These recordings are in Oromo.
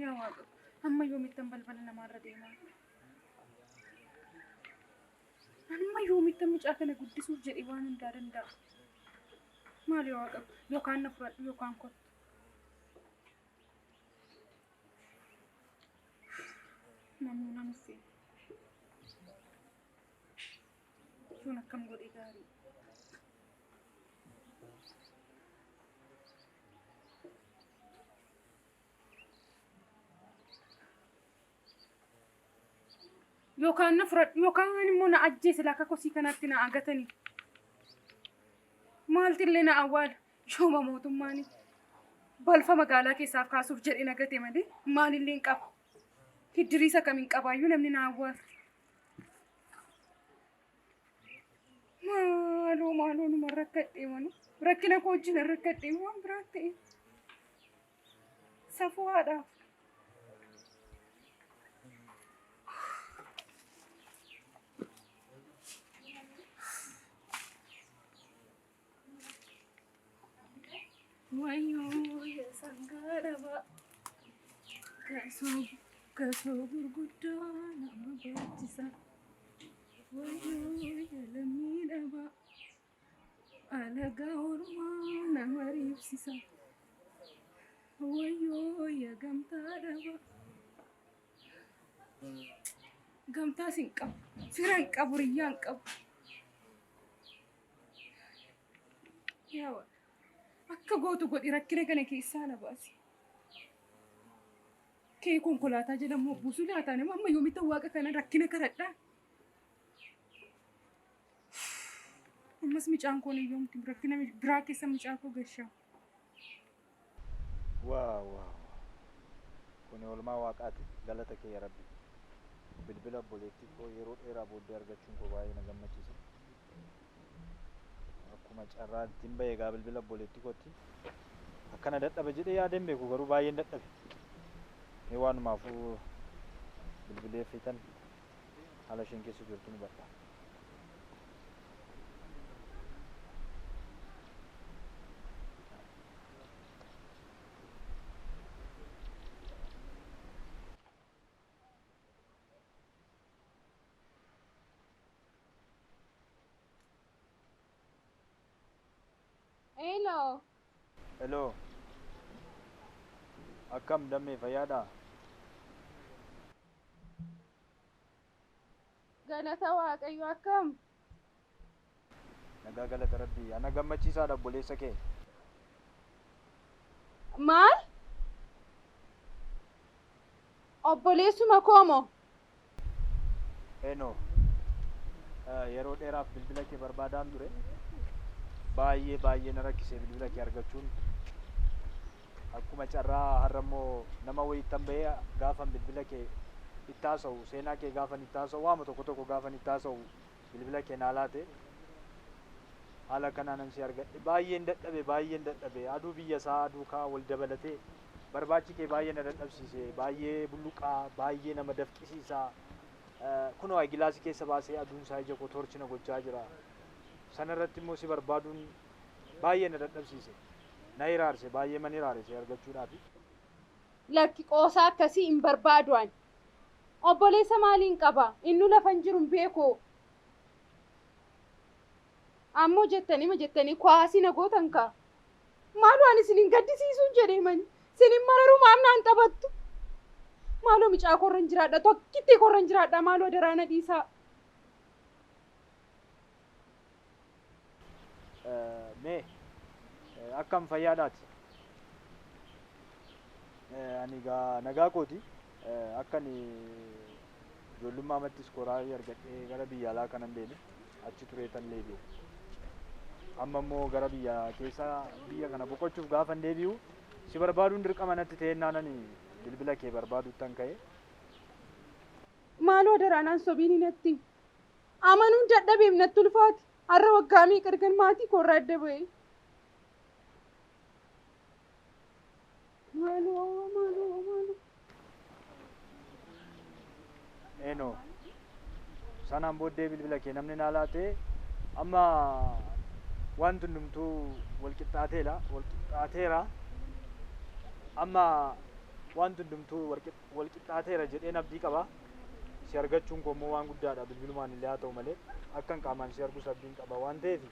Yaa waaqa, amma yoomittan balbala namaarra deemaa? Amma yoomittan mucaa kana guddisuuf jedhee waan hundaa danda'a. Maali yaa waaqa, yookaan na fudhadhu yookaan kottu. Namni namni seena. Kun akkam godhee gaarii. Yookaan na fudhadhu yookaan immoo na ajjeese laaka kosii kanatti na agatanii. Maalti illee na awwaala shooma mootummaan balfa magaalaa keessaaf kaasuuf jedhee na gate malee maalillee hin qabu. Hiddiriisa kam hin qabaayyuu namni na awwaala. Maaloo maaloo numa rakkadhee mana. Rakkina koo wajjin rakkadhee waan biraa ta'e. Safuu haadhaaf. Wayyoo yaa sangaa dhabaa gasoo gasoo gurguddaa nama baachisa. Wayyoo yaa lammii dhabaa alagaa ormaa nama riibsisa. Wayyoo yaa gamtaa dhabaa gamtaas hin qabu fira hin qabu riyyaa hin qabu. Yaa Waaqa, akka gootu godhi rakkina kana keessaa na baasi. Kee konkolaataa jala immoo buusu laataa nama amma yoomitti waaqa kana rakkina karadhaa. Ammas mucaan koo ni yoomti rakkina biraa keessa mucaa koo gashaa. Wow wow wow kuni olmaa waaqaati galata kee ya rabbi bilbila obboleettii koo yeroo dheeraa booddee argachuun koo baay'ee na gammachiise akkuma carraa ittiin bahe egaa bilbila obboleettii kootti akkana dadhaba jedhee yaadeen beeku garuu baay'een dadhabe mee waanumaafuu bilbilee fiitan haala isheen keessa jirtu ni hubadha. Hello. Hello. Akkam dammee fayyaadhaa? Galata Waaqayyo akkam? Nagaa galata rabbii. Ana gammachiisaadha obboleessa kee. Maal? Obboleessuma koo moo? Eno yeroo dheeraaf bilbila kee barbaadaan ture baay'ee baay'ee na rakkisee bilbila kee argachuun akkuma carraa har'a immoo nama wayiittan bahee gaafan bilbila kee itti haasa'u seenaa kee gaafan itti haasa'u waama tokko tokko gaafan itti haasa'u bilbila kee naa laate haala kanaanan si argadhe baay'een dadhabe baay'een dadhabe aduu biyya isaa aduu kaa wal dabalatee Barbaachi kee baay'ee na dadhabsiise, baay'ee bulluqaa, baay'ee nama dafqisiisa. Kunoo ayigilaasii keessa baasee aduun isaa ija koo toorchi na gochaa jira. Sana irratti immoo si barbaaduun baay'ee na dadhabsiise. Na hiraarse, baay'eeman hiraare si argachuudhaaf. Lakki, qoosaa akkasii hin barbaadu ani. Obboleessa maaliin qaba? Innuu lafa hin jiru hin beeku. Ammoo jettaniima jettanii kuwaasii na gootan kaa! Maaloo ani isin hin gaddisiisuun jedhee mani. Isin hin mararuu maaf naan taphattu? Maaloo micaa korra hin jiraadha tokkittii korra hin jiraadha maaloo daraa na dhiisaa. Mee akkam fayyaadhaati? Ani gaa nagaa kooti akka ani Ijoollummaamatti iskoolaarii argadhee gara biyya alaa kanan deeme. Achi tureetan deebi'e. Amma immoo gara biyya keessa biyya kana boqochuuf gaafan deebi'u si barbaaduun dirqama natti ta'ennaanani bilbila kee barbaaduttan ka'e. Maaloo adaraa naan sobiini natti. Amanuun dadhabeem natti ulfaate. Har'a waggaa meeqa ergan maatii koorraa adda ba'ee. Maaloo maaloo maaloo. Eno. Sanaan booddee bilbila kee namni naa laatee amma wanti hundumtuu wal qixxaateera wal qixxaateera amma wanti hundumtuu wal qix- wal qixxaateera jedheen abdii qaba. Si argachuun koo immoo waan guddaadha bilbilumaan illee haa ta'u malee akkan qaamaan si argus abdiin qaba waan ta'eef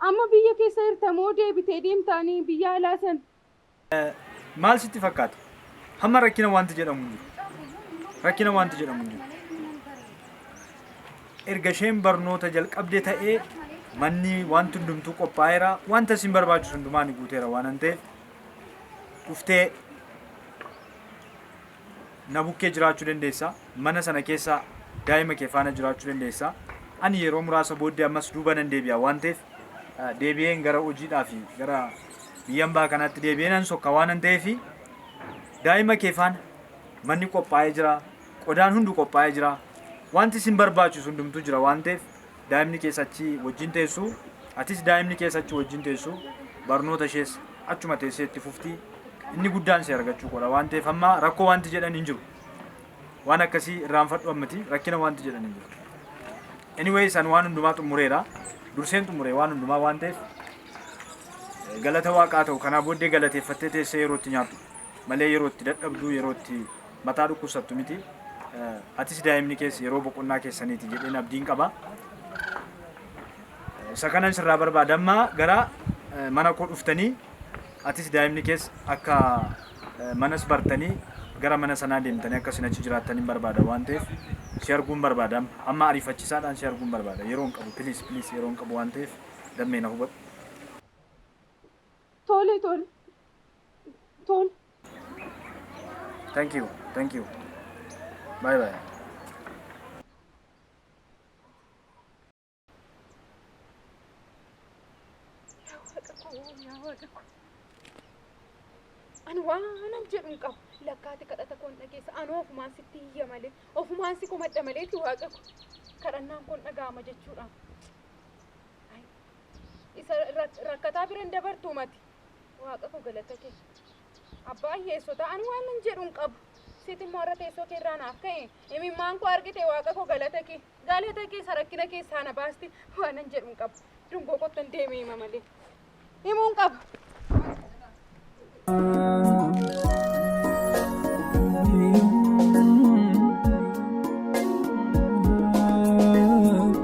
Amma biyya keessa jirta moo deebitee deemtaani biyya alaa san? Maal sitti fakkaata? Hamma rakkina wanti jedhamu hin jiru. Rakkina wanti jedhamu hin jiru. Erga isheen barnoota jalqabde ta'ee manni wanti hundumtuu qophaa'eera. Wanta isin barbaachisu hundumaa ni guuteera waan ta'eef dhuftee Na bukkee jiraachuu dandeessa. Mana sana keessa daa'ima kee faana jiraachuu dandeessa. Ani yeroo muraasa booddee ammas duuba nan deebi'a waan ta'eef deebi'een gara hojiidhaa fi gara biyya ambaa kanaatti deebi'ee nan sokka waanan ta'eef daa'ima kee faana manni qophaa'ee jira. Qodaan hundu qophaa'ee jira. Wanti isin barbaachisu hundumtuu jira waan ta'eef daa'imni kees achi wajjin teessu, atis daa'imni kees achi wajjin teessu, barnoota ishees achuma teessee itti fufti. Inni guddaan si argachuu qoodha waan ta'eef amma rakkoo wanti jedhan hin jiru. Waan akkasii irraanfadhu ammati rakkina wanti jedhan hin jiru. Anyways ani waan hundumaa xumureera. Durseen xumure waan hundumaa waan ta'eef eh, galata waaqaa ta'u kanaa booddee galateeffattee teessee yeroo itti nyaattu malee yeroo itti dadhabdu yeroo itti Mataa dhukkubsattu miti. Atis daa'imni kees yeroo boqonnaa keessaniiti jedheen abdiin qaba. Isa kanan sirraa barbaada amma gara mana koo dhuftanii atis daa'imni kees akka manas bartanii gara mana sanaa deemtanii akka isin achi jiraattan hin barbaada waan ta'eef si arguun barbaada amma. Amma ariifachiisaadhaan si arguun barbaada. Yeroo hin qabu piliis piliis yeroo hin qabu waan ta'eef dammee na hubadhu. Tole tole tole. Thank you. Thank you. Bye bye. Ani waanan jedhu hin qabu. Lakkaati kadhata koon dhageessa. Ani ofumaan sitti hiyya malee. Ofumaan si komadha maleetti waaqa ko. Kadhannaan koon dhaga'ama jechuudha. Isa rakkataa bira hin dabartuu mati. Waaqa koo galata kee. Abbaa hiyyeessotaa ani waan nan jedhu hin qabu. Siiti immoo har'a teessoo kee irraa naaf ka'e. Imimmaan koo argite waaqa koo galata kee. Galata kee sarakkina keessaa na baasti. Waan nan jedhu hin qabu. Dungoo kottan deemee hima malee. Himuu hin qabu.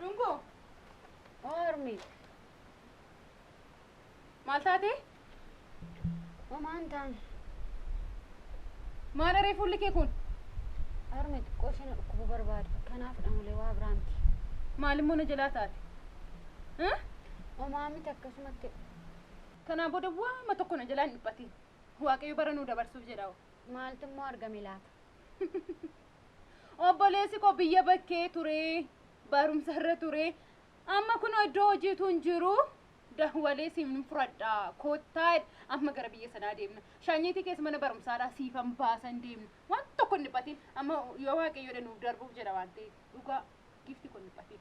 Dhungoo. Ormi. Maal taatee? Homaan taane. Maal aree fuulli kee kun? Ormi xiqqoo isheen dhukkubu barbaada. Kanaafidha malee waa biraa miti. Maal immoo na jalaa taate? Hah? Homaa miti akkasumatti. Kanaa booda waama tokko na jalaa hin dhiphatin. Waaqayyo bara nuu dabarsuuf jedha. Maaltu immoo argame laata? Obboleessi koo biyya bakkee turee barumsa irra turee amma kunoo iddoo hojiitu hin jiru dawwalee siin fudhadha koottaa amma gara biyya sanaa deemna shaanyeetii keessa mana barumsaadhaa siifan baasan deemna waan tokko hin dhiphatiin amma yoo waaqayyoodha nuuf darbuuf jedha waan ta'eef dhugaa gifti kun hin dhiphatiin.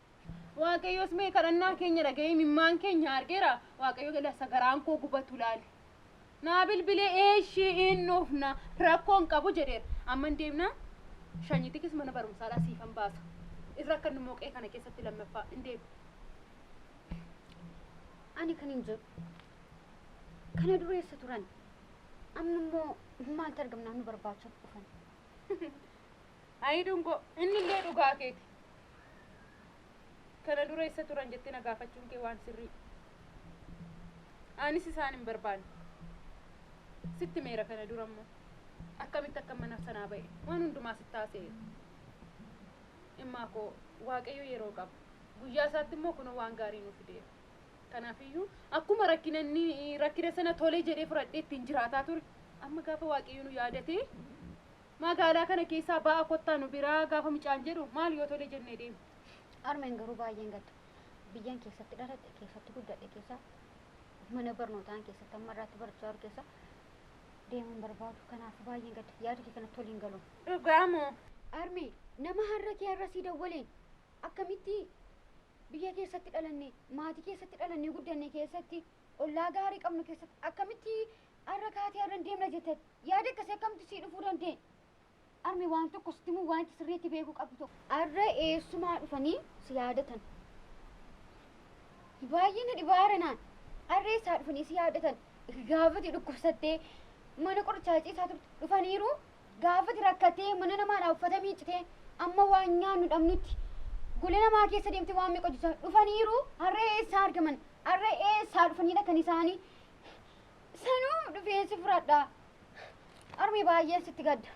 Waaqayyoos mee kadhannaa keenya dhaga'ee mimmaan keenya argeera waaqayyo galasa garaan koo gubatu laale. Naa bilbilee eeshii hin dhufna rakkoon qabu jedheera. Amman deemnaa shanyitikis mana barumsaadhaa siifan baasa. Irra akka inni moqee kana keessatti lammaffaa hin deemu. Ani kan hin jedhu kana dureessa turan amma immoo maaltu argamnaan nu barbaachaaf dhufan. Ayii dungoo innillee dhugaa keeti kana dura essa turan jettee na gaafachuun kee waan sirrii anis isaan hin barbaanne sitti meera kana dura immoo akkamitti akka mana sanaa ba'e waan hundumaa sitti haasa'eera immaa koo waaqayyo yeroo qaba guyyaa isaatti immoo kunoo waan gaarii nu fideera kanaafiyyuu akkuma rakkina inni rakkina sana tolee jedhee fudhadhee ittiin jiraataa ture amma gaafa waaqayyo nu yaadatee Magaalaa kana keessaa ba'aa kottaa nu biraa gaafa mucaan jedhu maal yoo tole jennee deemna. Harmeen garuu baay'een gaddu. Biyyan keessatti dhaladhe, keessatti guddadhe keessa, mana barnootaa an keessatti amma irraatti barachaa jiru keessa deemuu hin barbaadu. Kanaafuu baay'een gadda. Yaada kee kanatti waliin galu. Dhugaa moo? Harme, nama har'a kee har'a sii dawwaleen akkamitti biyya keessatti dhalanne, maatii keessatti dhalannee guddanne keessatti, ollaa gaarii qabnu keessatti akkamitti Arra kaatee arran deemna jetteet yaada akkasii akkamtu sii dhufuu danda'e? Armi waan tokko sitti himuu waanti sirriitti beekuu qabdu tokko. Arra eessumaa dhufanii si yaadatan? Baay'ee na dhibaa aranaan. Arra eessaa dhufanii si yaadatan? Gaafati dhukkubsattee mana qorichaa ciisaa turte dhufaniiru. Gaafati rakkattee mana namaadhaa uffata miiccitee amma waan nyaannu dhabnutti gola namaa keessa deemtee waan meeqa hojjechaa dhufaniiru. Arra eessaa argaman? Arra eessaa dhufanii dhaqan isaanii? Sanuu dhufeen si fudhadha. Armi baay'een sitti gadda.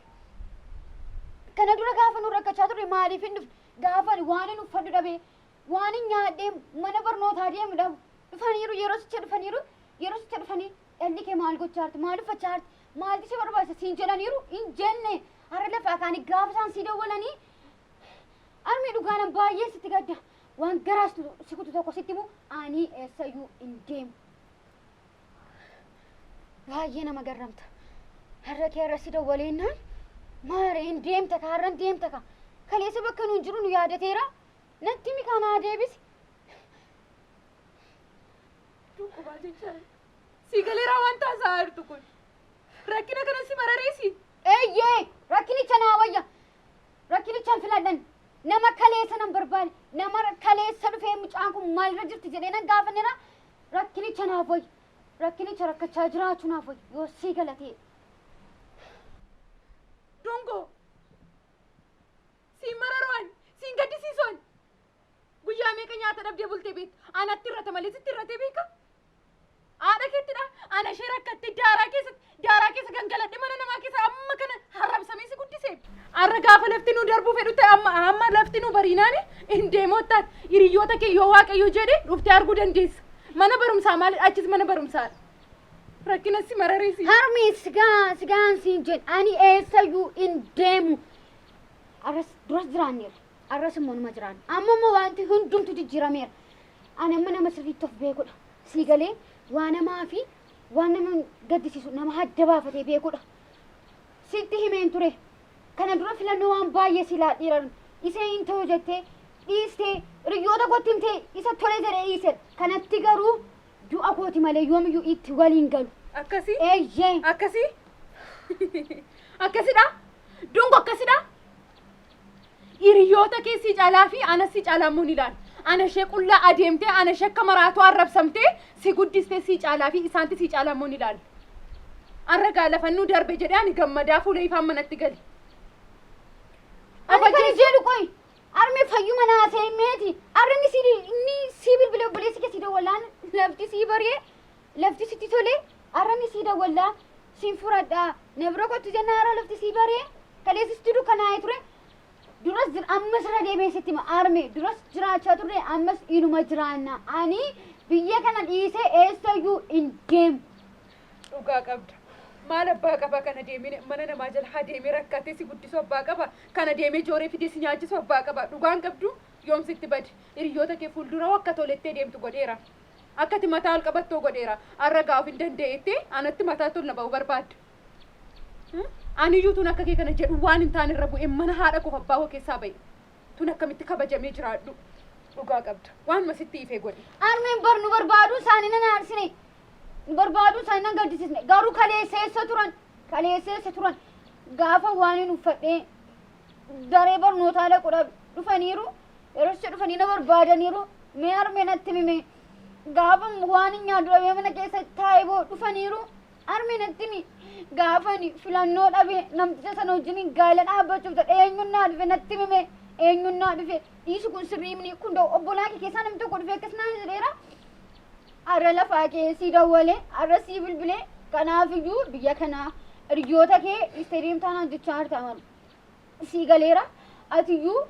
Kana dura gaafa nu rakkachaa turre maaliif hin dhufne? Gaafa ani waan hin uffadhu dhabee, waan hin nyaadhee mana barnootaa deemu dhabu. Dhufaniiru yeroo sicha dhufaniiru yeroo sicha dhufanii dhalli kee maal gochaa jirti? Maal uffachaa jirti? Maaltu si barbaachisa? Siin jedhaniiru hin jenne. Har'a lafaa kaanii gaafa isaan sii dawwalanii armi dhugaanan baay'ee sitti gadda. Waan garaas si kutu tokko sitti himu ani eessayyuu hin deemu. Baay'ee nama garramta. Har'a kee har'a si dawwaleennaan maare hin deemta ka har'an deemta ka. Kaleessa bakka nuun jiru nu yaadateera. Natti mi kaanaa deebisi. Dhukkubaa jecha si galeeraa waan taasaa jirtu kun. Rakkina kana si marareesi. Eeyyee rakkinicha naa wayya. Rakkinichaan filadhan. Nama kaleessa nan barbaade. Nama kaleessa dhufee mucaan kun maalirra jirti jedhee nan gaafannera. Rakkinicha naaf wayyu. Rakkinicha rakkachaa jiraachuu naaf wayyu. Yoo sii galatee. Dongoo! Siin mararuu ani, siin gaddisiisu ani. Guyyaa meeqa nyaata dhabdee bultee beekta? Anatti irrata malee sitti irratee beeka? Haadha keettidha, ana ishee rakkattee daaraa keessatti Daaraa keessa gangaladhe mana namaa keessa amma kana harrabsamee si guddise. Har'a gaafa lafti nu darbuu fedhu ta'e amma amma lafti nu bariinaani hin deemottaan hiriyoota kee yoo waaqayyo jedhe dhuftee arguu dandeessa. Mana barumsaa maali achis mana barumsaadha. Rakkina si mararisi. Harmee sigaa sigaan siin jedhu ani eessayyuu hin deemu. Arras duras jiraanneera. Arras immoo numa jiraanna. Amma immoo wanti hundumtu jijjiirameera. Ani amma nama sirriitti of beekudha. Sii galee waa namaa fi waan nama gaddisiisu nama adda baafatee beekudha. Sitti himeen ture. Kana dura filannoo waan baay'ee si laadhiiran isee hin ta'u jettee dhiistee hiriyoota kootti himtee isa tole jedhee dhiiseera. Kanatti garuu du'a kooti malee yoomiyyuu itti waliin galu. Akkasii? Eeyyee. Akkasii? Akkasidha? Dungo akkasidha? Hiriyoota kee si calaa fi ana si calaa immoo ni laala. Ana ishee qullaa adeemtee ana ishee akka maraatuu arrabsamtee si guddistee si caalaa fi isaanti si caalaa immoo ni laala. Arra gaa lafannuu darbe jedhee ani gammadaa fuula ifaan manatti gale. Ani kan jedhu qoy arme fayyuma naa seemeeti arrani si inni si bilbile obboleessi kee si dawwalaan lafti si baree Lafti sitti tole arra ni sii dawwalla sin furadha na bira kottu jennaan arra lafti sii bari'e kaleessa sitti dukkanaa'e ture duras jira ammas irra deebi'een sitti hima arme duras jiraachaa turre ammas inuma jiraanna ani biyya kana dhiisee eessayyuu hin deemu. dhugaa qabda maal abbaa qaba kana deemine mana namaa jala haa deemee rakkatee si guddisu abbaa qaba kana deemee jooree fidee si nyaachisu abbaa qaba dhugaan qabdu yoom sitti bade hiriyoota kee fuuldura akka tolettee deemtu godheera. Akka ati mataa ol qabattoo godheera. Har'a egaa of hin danda'etti anatti mataatti ol na ba'uu barbaadda. Hmm? Aniyyuu tun akka kee kana jedhu waan hin taane irra bu'e mana haadha koof abbaa koo keessaa ba'e. Tun akkamitti kabajamee jiraadhu. Dhugaa qabda. Waanuma sitti ife godhi. Harmeen bar nu barbaaduu isaanii nan aarsine. Nu barbaaduu isaanii nan gaddisisne. Garuu kaleessa eessa turan? Kaleessa eessa turan? Gaafa waan hin uffadhee daree barnootaa dhaqu dhabe. Dhufaniiru Yerocha dhufanii na barbaadaniiru. Mee harmee natti himi mee. Gaafa waan hin nyaadhu dhabee mana keessa taa'ee boo dhufaniiru. Harmee natti himi. Gaafa ani filannoo dhabee namticha sana wajjin gaa'ela dhaabbachuuf ta'e eenyuun naa dhufe natti himi mee. Eenyuun naa dhufe dhiisi kun sirrii himni kun da'u obbolaa kee keessaa namni tokko dhufee akkas naa jedheera. Har'a lafaa kee sii dawwalee har'a sii bilbilee kanaafiyyuu biyya kanaa hiriyoota kee dhiistee deemtaa naan jechaa jirta malu. sii galeera atiyyuu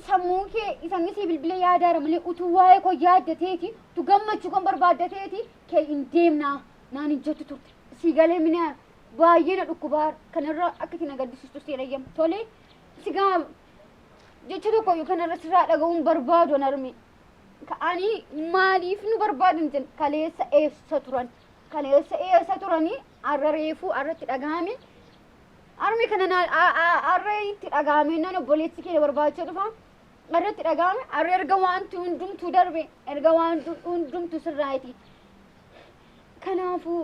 sammuun kee isanni sii bilbila yaadaara malee utuu waa'ee koo yaaddateeti utuu gammachuu kan barbaaddateeti kee hin deemnaa naan hin jettu turte sii galee minaa baay'ee na dhukkubaa kanarra akka itti na gaddisiistu sii dhayyama tolee sigaa jecha tokko yookaan irra sirraa dhaga'uun barbaadu an arme ka'anii maaliif nu barbaadan jedhan kaleessa eessa turan kaleessa eessa turanii arra reefuu arratti dhaga'ame Harmee kana naan arree itti dhaga'ame nan obboleessi kee na barbaachee dhufa arree itti dhaga'ame arree erga waanti hundumtuu darbe erga waanti hundumtuu sirraa'iti kanaafuu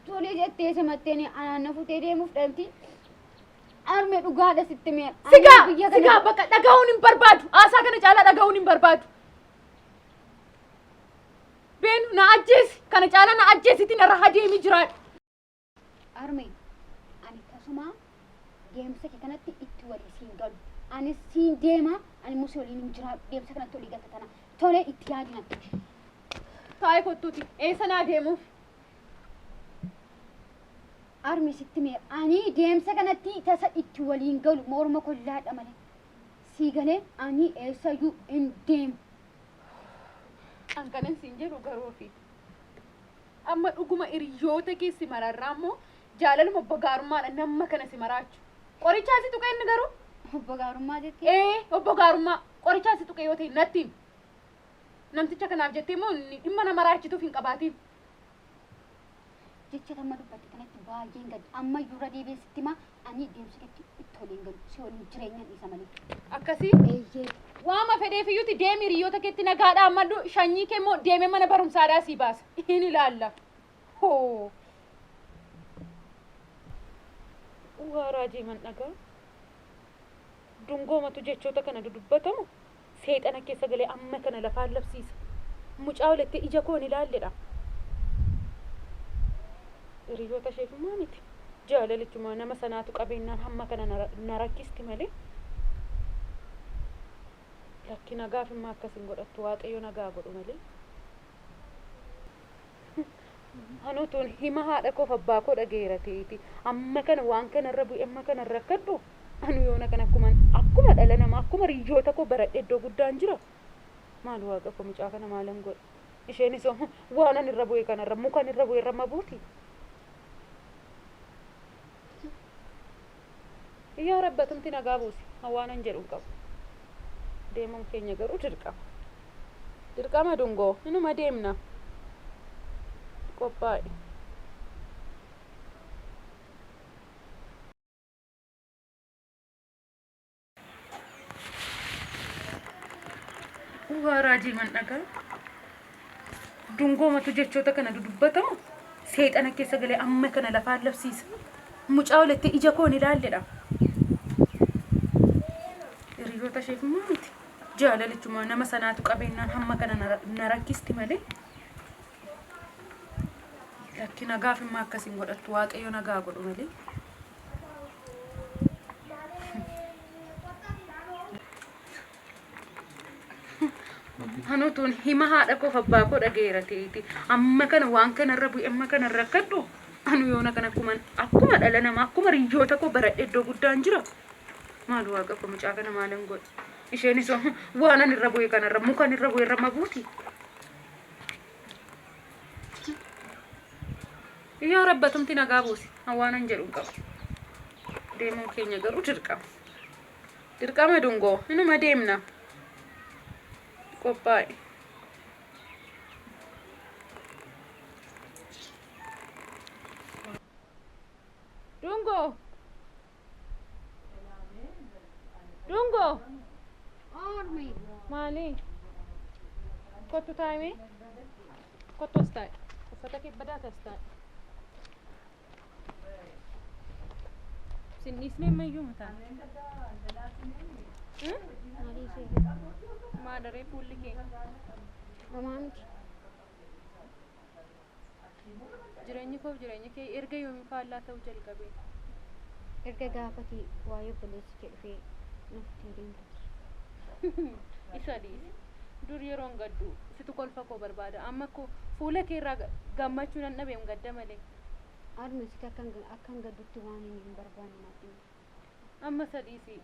tolee jettee simatteen anaan na futee deemuuf dhalti armee dhugaadha sitti mee Sigaa, sigaa bakka dhaga'uun hin barbaadu. Haasaa kana caalaa dhaga'uun hin barbaadu. Beenu na ajjeesi. Kana caalaa na ajjeesiti narra hadeemi jiraadhu. Arme ani tasumaa deemsa kee kanatti itti walii siin galu. Anis siin deema, ani immoo si waliin hin jiraadhu. Deemsa kanatti walii galta tana. Tolee itti yaadi natti. Taa'ee kottuuti. Eessa naa deemuuf? Armi sitti mee ani deemsa kanatti tasa itti waliin galu morma kollaadha malee. Sii galee ani eessayyuu hin deemu. An kanan siin jedhu garuu ofii. Amma dhuguma iriyyoota kee si mararraa immoo jaalaluma obbo gaarummaadha namma kana si maraachu. Qorichaa si tuqee inni garuu? Obbo gaarummaa jettee? Ee obbo gaarummaa qorichaa si tuqee yoo ta'e natti himi. Namticha kanaaf jettee immoo inni dhimma na maraachituuf hin qabaatiin. Jecha tamma dubbatte kanatti baay'een gadda. Amma iyyuu irra deebi'ee sitti himaa Ani deemsi itti itti waliin galu si waliin jireenyan dhiisa malee. Akkasi Eeyyee. waama fedheefiyyuuti deemi hiriyoota keetti nagaadhaa madhu shanyii kee immoo deemee mana barumsaadhaa sii baasa. Hin ilaalla. Hoo. Waa raajii man dhagaa. Dungoomatu jechoota kana dudubbatamu Seexana keessa galee amma kana lafaan labsiisa. Mucaa walitti ija koon ilaalledha. Hiriyoota isheef immoo miti. Jaalalichuma nama sanaatu qabeennaan hamma kana na rakkisti malee. Lakki nagaaf immoo akkas hin godhattu waaqayyo nagaa godhu malee. Anoo tuun hima haadha koof abbaa koo dhagaheera ta'eeti amma kana waan kana irra bu'e amma kana rakkadhu anu yoona kana akkuman akkuma dhala namaa akkuma riyyoota koo baradhe iddoo guddaan jira maal waaqa koo mucaa kana maalan godha isheenis waan ani irra bu'e kanarra mukan irra bu'e irra ma buuti Yaa Rabbi atumti nagaa buusi. An waanan jedhu hin qabu. Deemuun keenya garuu dirqama. Dirqama dungoo. Inuma deemna. Qophaa'i. Waa raajii man dhagaa. Dungoomatu jechoota kana dudubbatamu seexana keessa galee amma kana lafaan labsiisa. Mucaa walitti ija koon ilaalledha. Hiriyoota isheef immoo miti. Jaalalichuma nama sanaatu qabeenyaan hamma kana na- na rakkisti malee. Lakki nagaaf immoo akkasiin godhattu waaqayyo nagaa godhu malee. Hanutuun hima haadha koof abbaa koo dhageera ta'eeti. Amma kana waan kanarra bu'e amma kana rakkadhu. Anu yoona kana akkuma akkuma dhala namaa akkuma riyyoota koo baradhe iddoo guddaan jira. Maal waaqa koo mucaa kana maalan godhe. Isheenis waan ani irra bu'e kanarra mukan irra bu'e irra ma buuti. Yaa Rabbi atumti nagaa buusi. An waanan jedhu hin qabu. Deemuun keenya garuu dirqama. Dirqama dungoo. Inuma deemna. Qophaa'i. Dungoo. Dhungoo. Ormi. Maali? Kottu taa'imee. Kottu as taa'i. Uffata kee badaa as taa'i. Sin dhiisnee ammayyuu mataa. Maalii ishee. Maadaree fuulli kee. Amaa miti. Jireenyi koof jireenyi kee erga yoomiin faallaa ta'uu jalqabe? Erga gaafati waa'ee obboleessi kee dhufee na futee deemteti. Isa dhiisi. Dur yeroon gaddu situ kolfa koo barbaada. Amma koo fuula kee irraa gammachuu nan dhabeem gadda malee. Arnu siti akkan gaddutti waanin hin barbaanne naaf himi. Amma isa dhiisi.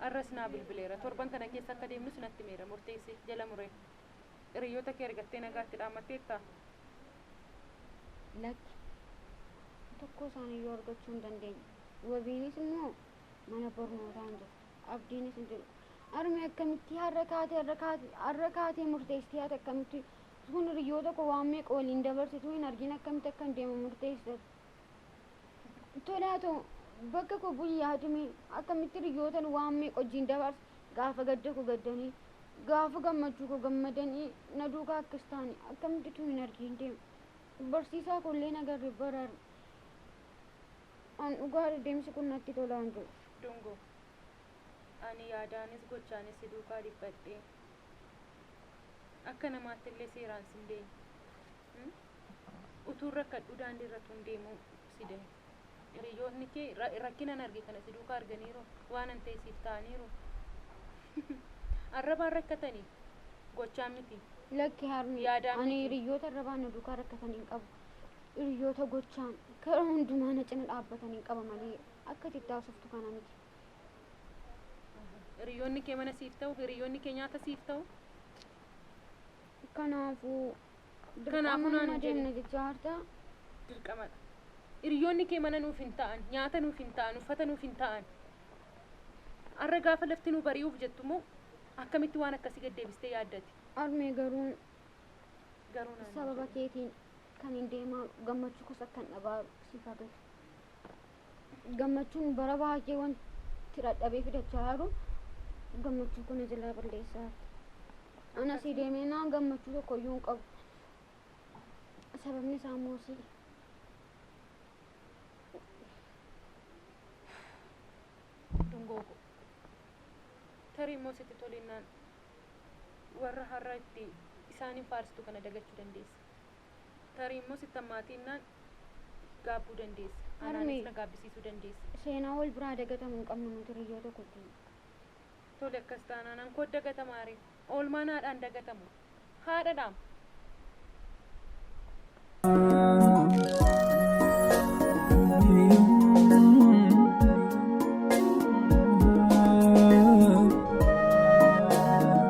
Arras naa bilbileera. Torban kana keessa akka deemnus natti himeera. Murteesse. Jala muree. Hiriyoota kee argattee nagaatti dhaammatteettaa? Lakki. Tokkoo isaaniiyyuu argachuu hin dandeenye. Wabiinis immoo mana barnootaa hin jirtu. Abdiinis hin jiru. Harmee akkamitti har'a kaatee har'a kaatee har'a kaatee murteessitee ati akkamitti kun hiriyoota koo waan meeqa waliin dabarsituu hin argin akkamitti akkan deemu murteessitati? Tole haa ta'u, bakka koo bu'i yaadimee, akkamitti riyyootan waan meeqa wajjin dabarse, gaafa gadda koo gaddanii, gaafa gammachuu koo gammadanii na duukaa akkas ta'ani, akkamitti utuu hin argiin deema. Barsiisaa koo illee hin agarre bara har'a. An dhugaadha deemsi kun natti tolaa hin jiru. Dungoo. Ani yaadaanis gochaanis si duukaa dhiphadhee. Akka namaatti illee seeraan sin beekne. Utuun rakkadhuu daandii irra tuun deemuu si dide. Hiriyoonni kee rakkinan arge kana si duukaa arganiiru waanan ta'e siif ta'aniiru. Arrabaan rakkatanii gochaan miti. Lakki harmee Yaadaan ani miti. hiriyoota arrabaan na duukaa rakkatan hin qabu. Hiriyoota gochaan karaa hundumaa na cina dhaabbatan hin qaba malee akka itti haasoftu kana miti. Hiriyoonni kee mana siif ta'u, hiriyoonni kee nyaata siif ta'u. Kanaafuu Kanaafuu naan hin jedhin. Deemna jechaa harta. Dirqamadha. Hiriyoonni kee mana nuuf hin ta'an, nyaata nuuf hin ta'an, uffata nuuf hin ta'an. Har'a gaafa lafti nu bari'uuf jettu immoo akkamitti waan akkasii gad deebistee yaaddati? Armee garuu Garuu naan hin sababa jedhin. keetiin kan hin deemaa gammachuu kos akkan dhabaa siif haa galu. gammachuun bara baay'ee wanti dhadhabee fidachaa jiru gammachuu kana jalaa balleessaa jirti. Ana sii deemee naan gammachuu tokko iyyuu hin qabu. Sababni isaa immoo sii. Dungoo koo. Tarii immoo sitti tolinnaan warra har'a itti isaaniin faarsitu kana dagachuu dandeessa. Tarii immoo sitti hammaatiinnaan gaabbuu dandeessa. Harmee. Anaanis na gaabbisiisuu dandeessa. Seenaa wal biraa dagatamu hin qabnu nuti hiriyyoota kottii. Tole akkas taanaan ankoot dagatamaa ree? Oolmaan haadhaa hin dagatamu. Haadhadhaam!